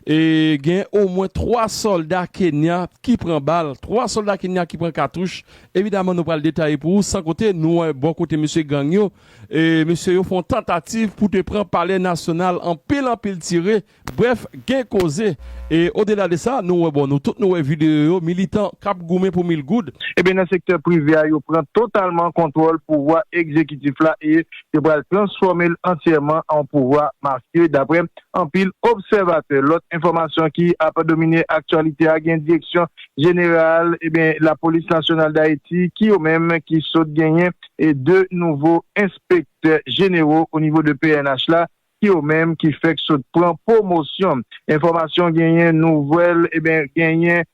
E gen omwen 3 sòlda Kenya ki pran bal, 3 sòlda Kenya ki pran katouch. Evidaman nou pral detaye pou ou san kote nou wè bò kote mesye gang yo, mesye yo fè yon tantativ pou te pran palè nasyonal anpil anpil tire, brèf gen koze. E odela de sa nou wè bon nou tout nou wè videyo yo militan k ap goumen pou mil goud. Ebyen nan sektè prive a yo pran totalman kontwòl pouvwa egzekitif la e yo pral transfòme l antyèman an yon pouvwa mafye daprè anpil obsèvatè. Lòt enfòmasyon ki ap domine aktyalite a gen Direksyon Jeneral Lapolis Nasyonal Dayiti ki yo menm ki sot genyen 2 nouvo enspektè jenero onivo de pnh la ki yo menm ki fèk sot pran pwomosyon. Enfòmasyon genyen nouvèl genyen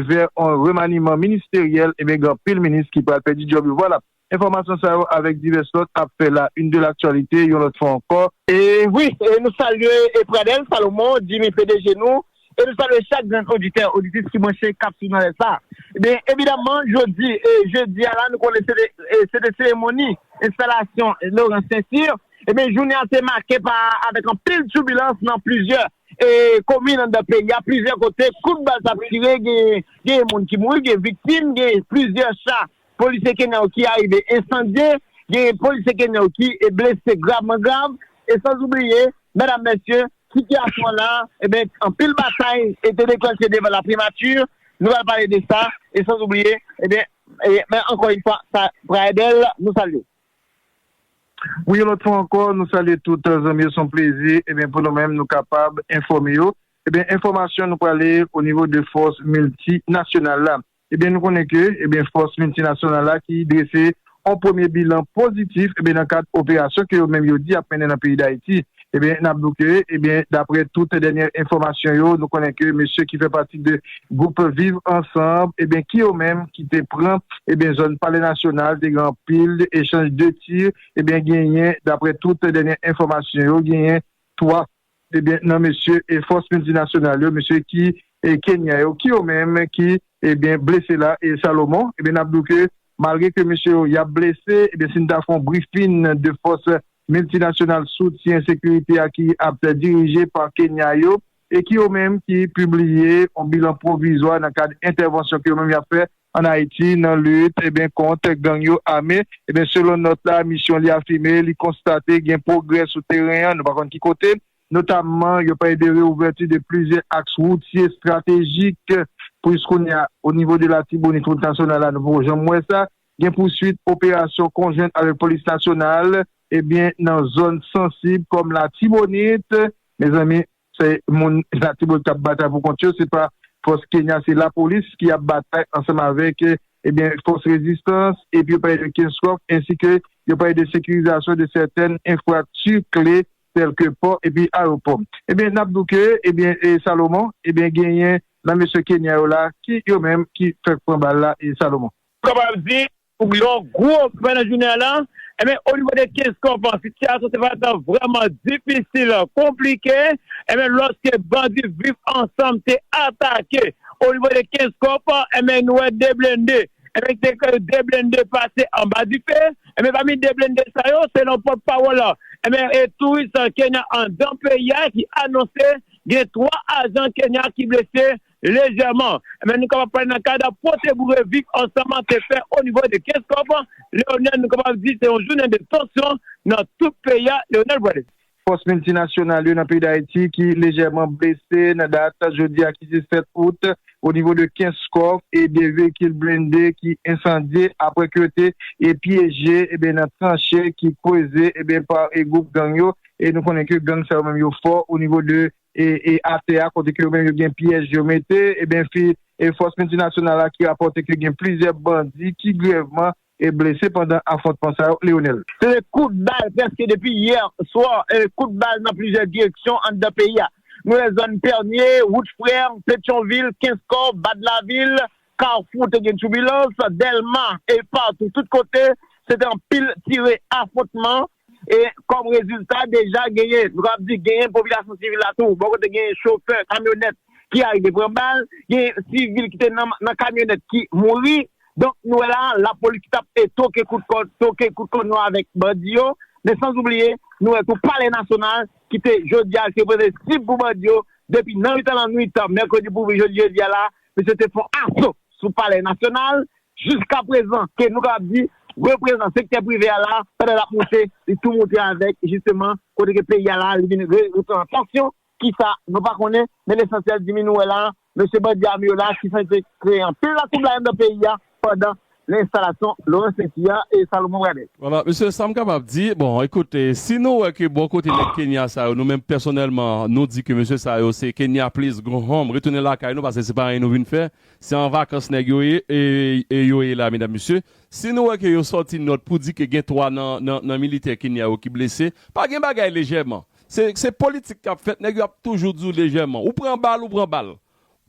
vè on remaniman ministeryèl gen anpil minis ki pral pèdi djòb yo. Vwalap! Enfòmasyon sa yo avèk divès lòt ap fè la une de l'actualité yon lòt fwa ankò. E wi, e nou salye e Pradel Salomon, Jimmy pdg nou, e nou salye chak grenn oditè, oditris ki branche kap swiv nan lè sa. Ebyen, evidaman jodi, e jedi a la nou konnen se te, se te seremoni enstalasyon Laurent Saintyr, ebyen jounen an te make pa avèk anpil tubilans nan plizyè e komin anndan peyi a, plizyè kote kout bal tap tire, genyen, genyen moun ki mouri, gen viktim, gen plizyè cha Polisye Kenyan yo ki arive ensandye, genyen polisye Kenyan yo ki blese gravman grav, e san oubliye, medam mesye, sitiyasyon an la, eben, anpil batay te deklanche devan la primati, nou pral pale de sa, e san oubliye, eben, men ankò yn fwa, sa pral bèl, nou salye. Wi yon lòt fwa ankò, nou salye tout zanmi yo, son plezi, eben, pou nou menm nou kapab enfòme yo, eben, enfòmasyon nou prale o nivo de fòs milti nasyonal la. Ebyen nou konnen ke ebyen fòs miltinasyonal la ki drese yon premye bilan pozitif ebyen nan kad operasyon ke yo menm yo di yap mennen nan peyi Dayiti. Ebyen nap di w ke ebyen daprè tout dènyè enfòmasyon yo nou konnen ke mesye ki fè pati de gwoup viv ansanb ebyen ki yo menm ki te pran ebyen zòn palè nasyonal te gen anpil echanj de tir ebyen genyen daprè tout dènyè enfòmasyon yo genyen 3 e byen nan mesye e fòs miltinasyonal yo mesye ki e Kenya yo ki yo menm ki e byen blese la e Salomon e byen nap di w ke malgre ke mesye yo yap blese e byen sin ta fon brifin de fòs miltinasyonal soutyen sekirite a ki ap dirije pa Kenya yo e ki yo menm ki pibliye yon bilan pwovizwa nan kad entèvansyon ke yo menm yap fè an Ayiti nan lit ebyen kont gang yo ame ebyen selon nòt la misyon li afime li konstate gen pwogrè sou teren an nou pa konn ki kote, notamman yo pale de reouvèti de plizyè aks woutye estratejik pou jiskounya o nivo de latibonit wout nasyonal la nou poko janm wè sa, gen pouswit operasyon konjwent avèk polis nasyonal ebyen nan zòn sansib kòm latibonit mezanmi. Se moun latibonit kap batay pou kont yo se pa fòs kenya se lapolis ki ap batay ansanm avèk ebyen fòs rezistans epi yo pale de kenskòf ensi ke yo pale de sekirizasyon de sètèn enfrakti kle tèl ke pò epi ayopò ebyen nap di w ke ebyen salomon ebyen genyen nan mesye kenya yo la ki yo menm ki fèk pran bal la salomon. Kapab di Pou yon gwo fen nan jounen an lan, enben onivo de 15 kòp an, sitiyasyon te parèt lan vrèman difisil, konplike, enben lòske bandi Viv Ansanm te atake onivo de 15 kòp, enben nou wè 2 blende, enben ki te 2 blende pase anba dife, enben pami 2 blende sa yo, selon pòt pawòl, enben touris Kenya anndan peyi a ki anonse gen 3 ajan Kenya ki blese Lejèman, men nou kapab pale nan kad pwote boure vik ansanm an te fè o nivo de Kenskòf, Leonèl nou kapab di se yon jounen de tansyon nan tout peyi a, Leonèl Pwale. Fòs miltinasyonal yo nan peyi Dayiti ki lejèman blese nan dat jodi a ki se 7 out o nivo de Kenskòf e 2 veyikil blende ki ensandye apre ke yo te pyeje nan tranche ki kweze pa gwoup gang yo e nou konnen ke gang sa yo menm yo fò o nivo de e atè a kote ke yo menm yo gen pyèj yo mete ebyen fi e fòs miltinasyonal la ki rapòte ke gen plizyè bandi ki grèvman e blese pandan afwontman sa yo Leonel. Se te kout bal prèske depi yè swa e kout bal nan plizyè direksyon anndan peyi a. Nou wè zòn Pènye, wout Frère, Petyonvil, Kenskò, Bad Lavil, Carrefour te gen tchoubilans, Dèlma e patou tout kote se te anpil tire afwontman. E kòm rezilta, deja genyen, nou kapab di genyen popilasyon sivil la tou, bò kote genyen chofè kamyonèt ki arive pran bal, genyen sivil ki te nan kamyonèt ki mouri. Donk nou wè la a, lapolis ki t ap toke kout kòn, toke kout kòn yo avèk bandi yo. Men sanzoubliye, nou wè tou Palè Nasyonal ki te jodi a ki te reprezante sib pou bandi yo, depi nan mitan lannwit mèkredi pou jodi a la, misye te fè yon aso sou Palè Nasyonal, Jiska prezan ke nou kapab di reprezan sektè prive a la pandan lap moutre li tou moutre avèk jisteman kote ke peyi a la li vin reprezentan an tansyon kisa nou pa konnen men lesansyèl dimi nou wè la mesye bandi ame yo la ki san te kreye anpil latwoublay anndan peyi a pandan lenstalasyon Laurent Sainty a e Salomon Pradel. Wala mesye sam kapab di bon ekout si nou wè ke bò kote nèg Kenya sa yo nou menm pèsonèlman nou di ke mesye sa yo se Kenya please go home retounen lakay nou paske se pa anyen nou vin fè Se an vakans nèg yo ye yo ye la medam mesye. Si nou wè ke yo sòti nòt pou di ke gen 3 nan militè Kenya yo ki blese, pa gen bagay lejèman. Se politik kap fèt, nèg yo ap toujou di w lejèman. Ou pran bal, ou pran bal.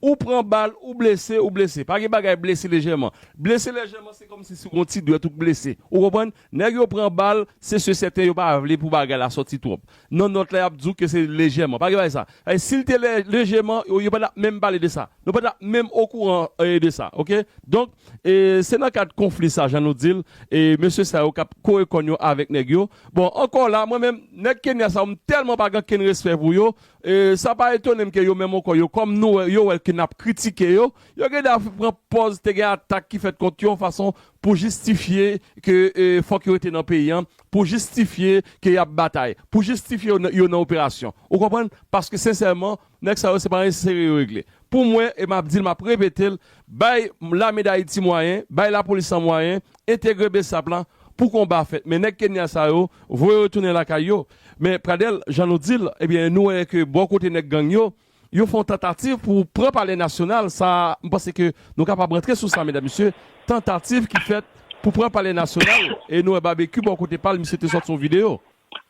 Ou pran bal, ou blese, ou blese. Pa gen bagay blese lejèman. Blese lejèman se kòmsi se yon ti dwèt ou k blese. Ou konprann? Nèg yo pran bal, se se sèten yo pa vle pou bagay la sòti twòp. Nan nòt la y ap di w ke se lejèman. Pa gen bagay sa. Sètadi si l te lè, lejeman, yo pa t ap menm pale de sa. Nou pa t ap menm okouran de sa. Ok? Donk, e se nan kad konfli sa, jan nou di l, e mesye sa yo k ap kore kòn yo avèk nèg yo. Bon, ankò la, mwen menm, nèg Kenya sa yo, m tèlman pa gen kenn respè pou yo, e sa pa etone m ke yo menm ankò yo, kòm nou wè, yo wè ke n ap kritike yo, yo gen dwa pran pòz te gen atak ki fèt kont yo yon fason pou jistifye ke fòk yo rete nan peyi an, pou jistifye ke y ap batay, pou jistifye yo nan operasyon. Ou konprann? Paske sensèman, nèg sa yo se pa nan enserye yo regle. Pou mwen, e m ap di l, m ap repete l, bay Lame Dayiti mwayen, bay Lapolis la mwayen, entegre bsap la pou konba a fèt. Men nèg Kenya sa yo, voye yo tounen lakay yo. Men Pradel, jan nou di l, ebyen nou wè ke bò kote nèg gang yo, Yo fè yon tantativ pou pran palè nasyonal, sa a, m panse ke nou kapab rantre sou sa medam mesye, tantativ ki fèt pou pran palè nasyonal, e nou wè Babekyou bò kote pa l, misye te sòti yon videyo.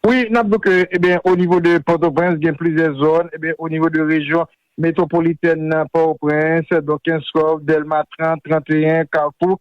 Wi, n ap di w ke, eben, o nivo de Pòtoprens gen plizyè zòn, eben, o nivo de rejyon metwopolitèn nan, Pòtoprens, donk Kenskòf, Dèlma 30, 31, Kafou,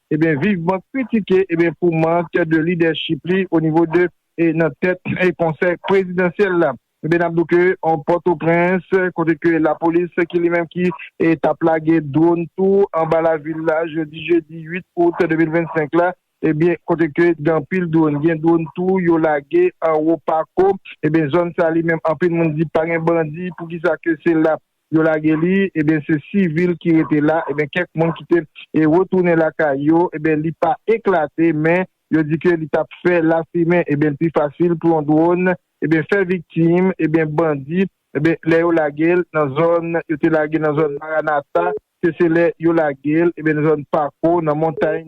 Ebyen vivman kritike ebyen pou mank de lidèchip li o nivo de e nan tèt e konsèy prezidansyèl la. Ebyen nap dou ke an Pòtoprens kote ke lapolis ki li menm ki e tap lage dwonn tou anba lavil la jodi jedi 8 out 2025 la ebyen kote ke gen anpil dwonn gen dwonn tou yo lage anwo pako ebyen zòn sa li menm anpil moun di pa gen bandi poukisa ke se la Yo lage li, eben se sivil ki rete la, eben kèk moun ki te retounen lakay yo, eben li pa eklate men yo di ke li tap fè lafimen, eben l pi fasil pou yon dwòn, eben fè viktim, eben bandi, eben lè yo lage l nan zòn yo te lage nan zòn Maranatha. ke se lè yo lage l nan zòn Pako, nan montay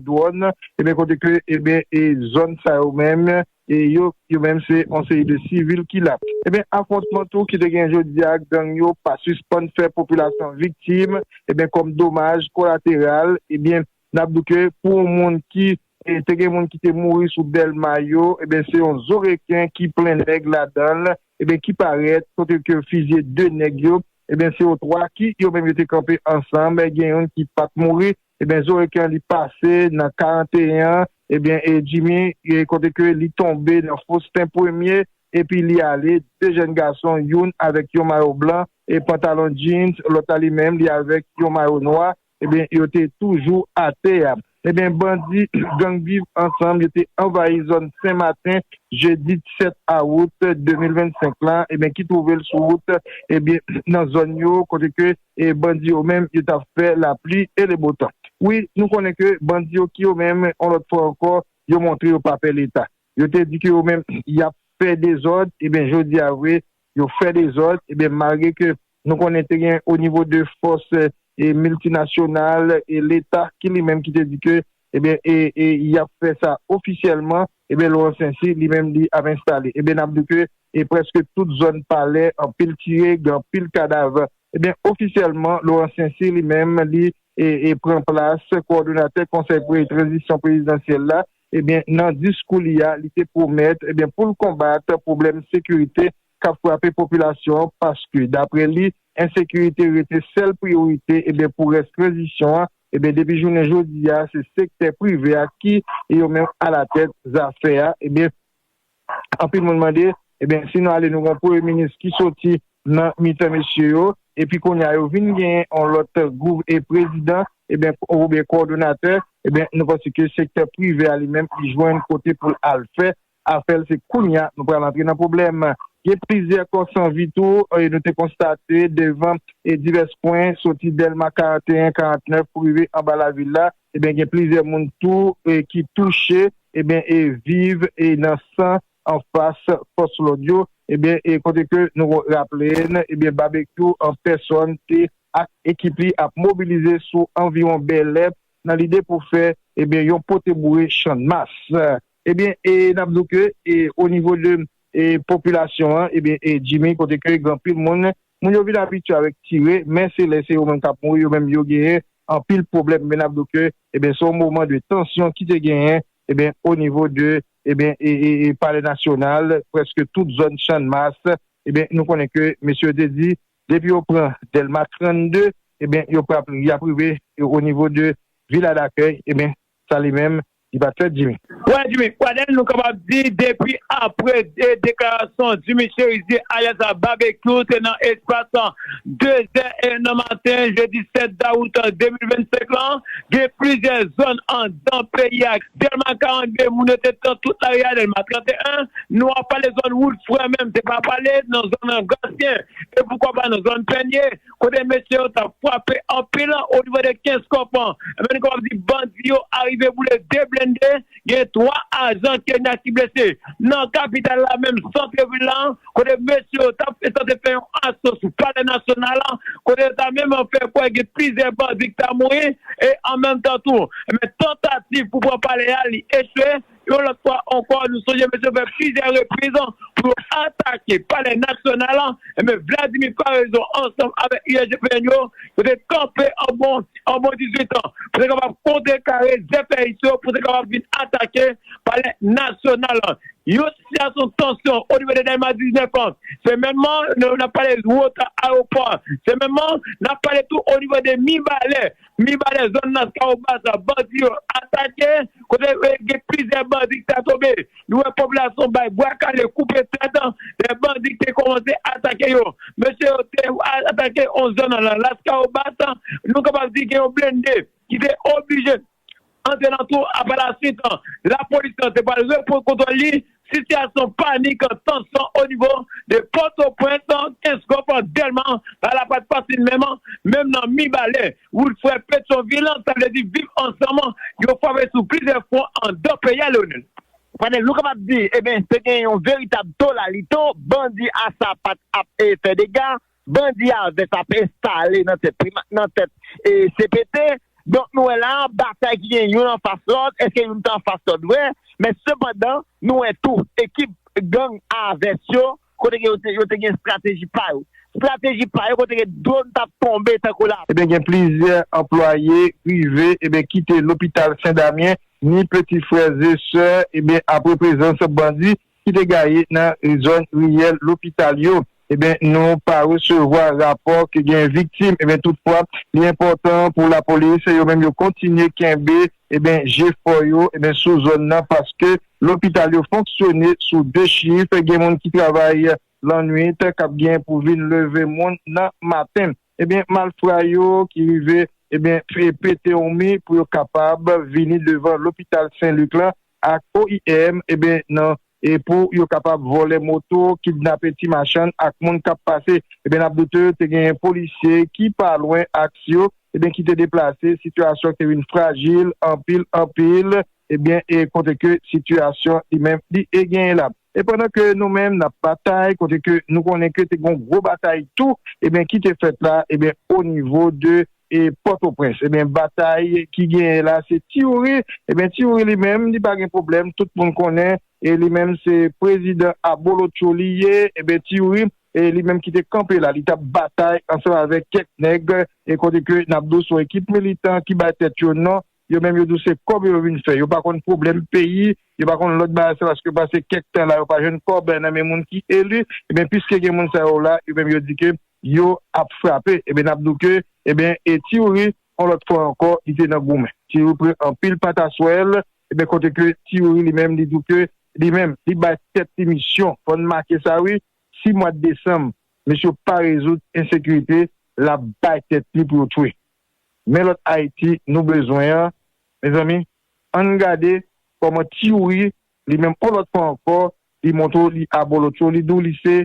Dwòn, kote ke zòn sa yo menm, yo menm se yon seri de sivil ki la. Afwontman tou ki te gen jodi a ak gang yo pa sispann fè popilasyon an viktim kòm domaj kolateral N ap di w ke pou yon moun ki te gen moun ki te mouri sou Dèlma yo, enben se yon zo reken ki plen nèg ladan l, enben ki parèt kote ke yo fizye 2 nèg yo, enben se yo 3 ki yo menm yo te kanpe ansanm, gen youn ki pa t mouri, enben zo reken an li pase nan 41 an, enben e Jimmy kote ke li tonbe nan Faustin premye epi li ale, 2 jèn gason youn avèk yon mayo blan e pantalon jeans, lòt la li menm li avèk yon mayo nwa, Ebyen yo te toujou atè a. Ebyen bandi gang Viv ansanm yo te anvayi zòn Sen Maten jedi 7 awout 2025 la ebyen ki twouve l sou wout ebyen nan zòn yo kote ke bandi yo menm yo t ap fè lapli e lebotan. Wi nou konnen ke bandi yo ki yo menm yon lòt fwa ankò yo montre yo pa pè leta. Yo te di ke yo menm y ap fè dezòd ebyen jodi a vre yo fè dezòd ebyen malgre ke Nou konnen te gen o nivo de fòs miltinasyonal e leta ki li menm ki te di ke ebyen e y ap fè sa ofisyèlman ebyen Laurent Saincy li menm li ap enstale ebyen n ap di w ke e prèske tout zòn palè anpil tire gen anpil kadav ebyen ofisyèlman Laurent Saincy li menm li e pran plas kowòdonatè konsèy pou tranzisyon prezidansyèl la ebyen nan diskou li a li te pwomèt ebyen pou l konbat pwoblèm sekirite k ap frape popilasyon an paske daprè li ensekirite rete sèl priyorite eben pou rès tranzisyon an eben depi jounen jodi a se sektè prive a ki yo menm alatèt zafè a eben anpil moun mande eben si nou ale nou gon premye minis ki soti nan mitan mesye yo epi kounye a yo vin genyen yon lòt gouv e prezidan eben oubyen kòdonatè eben nou panse ke sektè prive a li menm li jwenn kote pou l al fè Afèl se kounya nou pral antre nan pwoblèm. Gen plizyè kò san vi tou nou te konstate devan divès kwen soti Dèlma 41, 49 pou rive anba lavil la. Ebyen gen plizyè moun tou ki touche ebyen e viv nan san anfas fòs lòd yo ebyen e kote ke nou raple n ebyen Babekyou an pèsòn te ak ekip li ap mobilize sou anviwon Bèlè nan lide pou fè ebyen yon pote boure Channmas. Ebyen e nap di w ke e o nivo de e popilasyon an ebyen e Jimmy kote ke gen anpil moun, moun yo vin abitye avèk tire men se lè se yo menm kap mouri yo menm yo genyen anpil pwoblèm men nap di w ke ebyen se yon moman de tansyon ki te genyen ebyen o nivo de ebyen e e e palè nasyonal prèske tout zòn channmas ebyen nou konnen ke mesye yo te di depi yo pran dèlma 32 ebyen yo prap yap rive o nivo de viladakèy ebyen. sa li menm li pat fè Jimmy. Wè Jimmy Pradel nou kapab di depi apre deklarasyon Jimmy Cherizier alyas Babekyou te nan espas 2 zè nan maten jedi 7 dawout 2025 lan gen plizyè zòn anndan peyi a Dèlma 42 moun yo te pran tout lari a Dèlma 31 nou ap pale zòn wout frè menm te pa pale nan zòn Grasyen e poukwa pa nan zòn Pènye Kote mesye yo tap fwape anpil onivo de kenskòf an ebyen nou kapab di bandi yo arive boule 2 blende gen 3 ajan kenya ki blese nan kapital la menm santre vil la kote mesye yo tap sanse fè yon aso sou palè nasyonal kote yo ta menm fè kwè gen plizyè bandi ki ta mouri e an menm tan tou ebyen tantativ pou pran palè a li echwe Yon lòt fwa ankò, nou sonje mesye yo fè plizyè repriz pou yo atake palè nasyonal la, enben Vladimir Paraison ansanm avèk USGPN yo, yo te kanpe an bon an bon 18 tan pou te kapab kontrekare zèfèyis yo pou te kapab vin atake palè nasyonal la. Yon sitiyasyon tansyon onivo de Dèlma 19 an se menmman, n ap pale Wota, Ayewopò a se menmman, n ap pale tou onivo de Mibalè. Mibalè, zòn nan Kawobaza, bandi yo atake, kote gen plizyè bandi ki ta tonbe. Nou wè popilasyon an bay bwa kale, koupe tèt, lè bandi te kòmanse atake yo. Mesye yo te atake yon zòn nan Laskawobas, nou kapab di gen yon blende ki te oblije Nan zelantou Apalasye kan lapolis lan te pral repran kontwòl li, sitiyasyon panik, tansyon onivo 2 Pòtoprens, Kenskòf, Dèlma pa la pat fasil menm, menm nan Mibalè, wout frè Petyonvil, sa vle di Viv Ansanm yo frape sou plizyè fwon andan peyi a, Leonel. Fadel, nou kapab di, eben, te gen yon veritab tolalito, bandi asa pat ap fè dega, Bandi a vès ap enstale nan tèt primat nan tèt cpt donk nou wè la a batay ki gen youn anfas lòt èske youn ta anfas lòt vrè men sepandan nou wè tou ekip gang a vès yo kote ke yo te gen estrateji pa yo estrateji pa yo kote ke dwonn t ap tonbe tankou la. Ebyen gen plizyè anplwaye prive ebyen kite lopital sendamyen ni peti frè ze sè ebyen apre prezans bandi ki te gaye nan zòn riyèl lopital yo ebyen nou pa resevwa rapò ke gen viktim ebyen tout fwa li enpòtan pou lapolis yo menm yo kontinye kenbe ebyen jefò yo ebyen sou zòn nan paske lopital yo fonksyone sou 2 chif gen moun ki travay lannwit kap gen pou vin leve moun nan maten. Ebyen malfra yo ki rive ebyen pete hmi pou yo kapab vini devan lopital sen lik lan ak oim ebyen nan epou yo kapab vòlè moto kidnape ti machann ak moun kap pase ebyen nap doute te genyen polisye ki pa lwen aks yo ebyen ki te deplase sitiyasyon te vin frajil anpil anpil ebyen e kote ke sitiyasyon li menm li e genyen lap. E pandan ke nou menm nap batay, kote ke nou konnen ke te gen yon gwo batay tou ebyen ki te fèt la ebyen o nivo de e Pòtoprens ebyen batay ki genyen la se Ti Youri ebyen Ti Youri li menm li pa gen pwoblèm tout moun konnen e li menm se prezidan abolotcho li ye ebyen Ti Youri e li menm ki te kanpe la li tap batay ansanm avèk kèk nèg e kote ke nap di w se yon ekip militan ki bay tèt yo non. Yo menm yo di w se kòb yo vin fè. Yo pa konn pwoblèm peyi, yo pa konn lòt bagay se paske yo pase kèk tan la yo pa jwenn kòb nan men moun ki eli. Ebyen piske gen moun sa yo la, yo menm yo di ke yo ap frape. Ebyen n ap di w ke ebyen e Tiyouri on lòt fwa ankò li te nan goumen. Tiyouri pran anpil pataswèl, ebyen kote ke Tiyouri li menm li di w ke li menm li bay tèt li misyon, fò n make sa wi, si mwad desanm misye pa rezoud ensekirite l ap bay tèt li pou yo twe. Men lòt Haiti nou bezwen an mezanmi ann gade kòman ti youri li menm on lòt fwa ankò li montre w li abolotcho li di w li se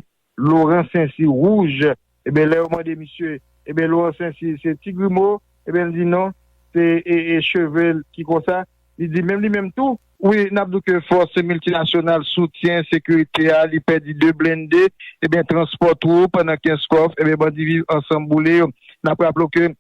Laurent sensi wouj eben lè yo mande misye eben Laurent sensi se ti grimo eben l di non se cheve l ki konsa. Li di menm li menm tou. Wi, n ap di w ke fòs miltinasyonal soutyen sekirite a, li pèdi 2 blende, ebyen transpò tou pandan Kenskòf, ebyen bandi Viv Ansanm boule yo. N ap raple w ke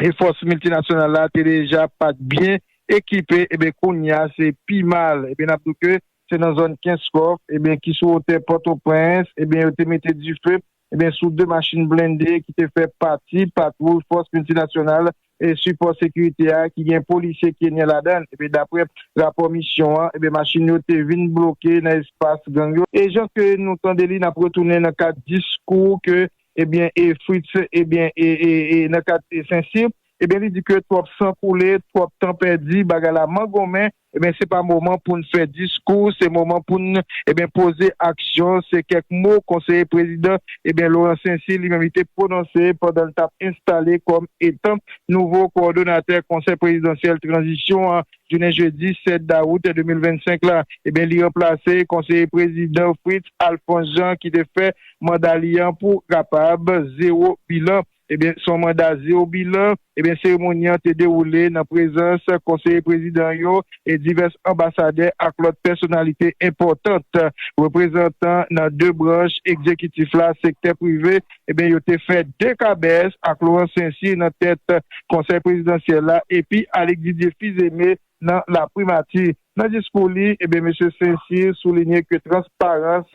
e fòs miltinasyonal la te deja pa t byen ekipe, ebyen kounye a se pi mal. Ebyen n ap di w ke se nan zòn Kenskòf, ebyen ki sou wotè Pòtoprens, ebyen yo te mete dife Ebyen sou 2 machin blende ki te fè pati patwouy fòs miltinasyonal sipò sekirite a ki gen polisye kenyen ladan l ebyen daprè rapò misyon an ebyen machin yo te vin bloke nan espas gang yo e jan ke nou tande li nap retounen nan kad diskou ke ebyen e Fritz ebyen e e e nan kad e St-Cyr ebyen li di ke twòp san koule twòp tan pèdi bagay la mangonmen Ebyen se pa moman poun fè diskou se moman poun ebyen poze aksyon se kèk mo konseye prezidan ebyen Laurent Saincy li menm li te pwononse pandan li tap enstale kòm etan nouvo kowòdonatè konsèy prezidansyèl tranzisyon an jounen jedi 7 dawout 2025 la ebyen li ranplase konseye prezidan Fritz Alphonse Jean ki te fè manda li an pou kapab zero bilan. Ebyen son manda zeobilan. Ebyen seremoni an te dewoule nan prezans konseye prezidan yo e divès anbasadè ak lòt pèsonalite enpòtant, reprezantan nan 2 branch egzekitif la, sektè prive, ebyen yo te fè 2 kabès ak Laurent Saincy nan tèt konsèy prezidansyèl la epi Alix Didier Fils-Aimé nan laprimati. Nan diskou li, ebyen mesye Saincy soulinye ke transparans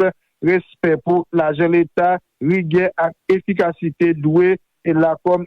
Respè pou lajan leta, rigè ak efikasite dwe la kòm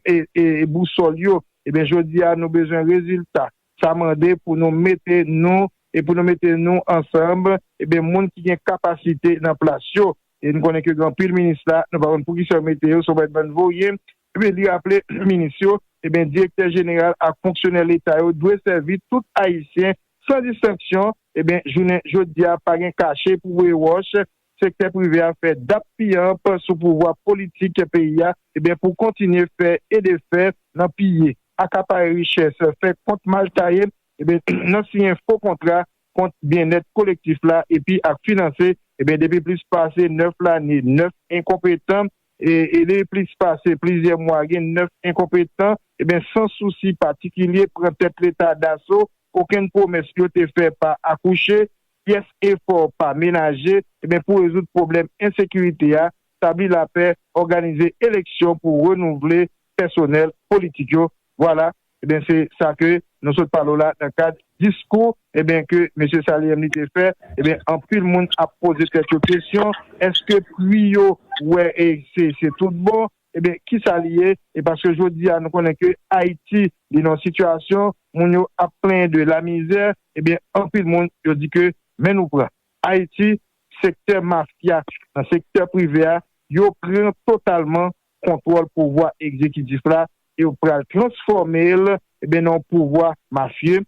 bousòl yo. Ebyen jodi a nou bezwen rezilta. Sa mande pou nou mete nou e pou nou mete nou ansanb ebyen moun ki gen kapasite nan plas yo. E nou konnen ke gen anpil minis la nou pa konn poukisa yo mete yo se yon bann voye Ebyen li raple minis yo, ebyen direktè jeneral ak fonksyonè leta yo dwe sèvi tout ayisyen san distenksyon, ebyen jounen jodi a pa gen kache pou voye wòch, sektè prive a fè dap piyanp sou pouvwa politik peyi a, ebyen pou kontinye fè e defè nan piye, akapare richès, fè kont mal taye, ebyen nan siyen fo kontra kont byennèt kolektif la epi ap finanse ebyen depi plis pase 9 lane 9 enkonpetan E li plis pase plizyè mwa gen 9 enkonpetan ebyen san sousi patikilye pran tèt leta daso, okenn pwomès yo te fè pa akouche, pyès efò pa menaje ebyen pou rezoud pwoblèm ensekirite a, tabli lapè, òganize eleksyon pou renouvle pèsonèl politik yo, vwala Ebyen se sa ke nou sot pale w la nan kad diskou ebyen ke Mesye Saliem li te fè ebyen anpil moun ap poze tèt yo kesyon eske pri yo wè e se se tout bon ebyen kisa li ye e paske jodi a nou konnen ke Ayiti li nan sitiyasyon moun yo ap plenyen de lamizè ebyen anpil moun yo di ke men nou pran Ayiti sektè mafya nan sektè prive a yo pran totalman kontwòl pouvwa egzekitif la e yo pral transfòme l nan yon pouvwa mafye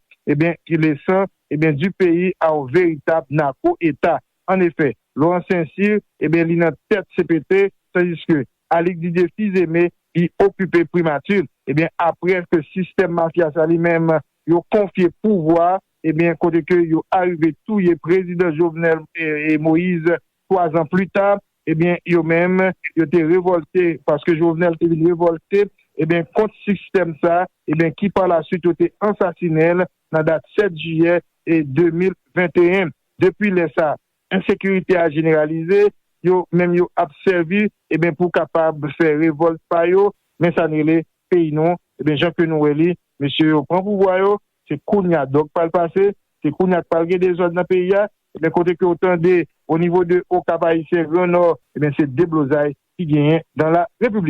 ki lesan di peyi a yon veritab nako eta. An efè, Laurent Saint-Cyr li nan tèt cpt tandiske Alix Didier Fils-Aimé li okipe primati aprè ke sistèm mafya sa li menm yo konfye pouvwa kote ke yo arive touye prezidan Jovenel Moïse 3 zan pli ta ebyen yo menm yo te revolte paske Jovenel te vin revolte ebyen kont sistèm sa ebyen ki pa la swit yo te ansasinenl nan dat 7 jiyè 2021 depi lè sa ensekirite a jeneralize yo menm yo ap sèvi ebyen pou kapab fè revolt pa yo men sa n rele peyi nou ebyen jan ke nou wè li mesye yo pran pouvwa yo Se kounya dòg pral pase, se kounya k pral gen dezòd nan peyi a, ebyen kote ke w tande onivo de Okap Ayisyen, Gran Nò, ebyen se deblozay ki genyen dan la Repiblik.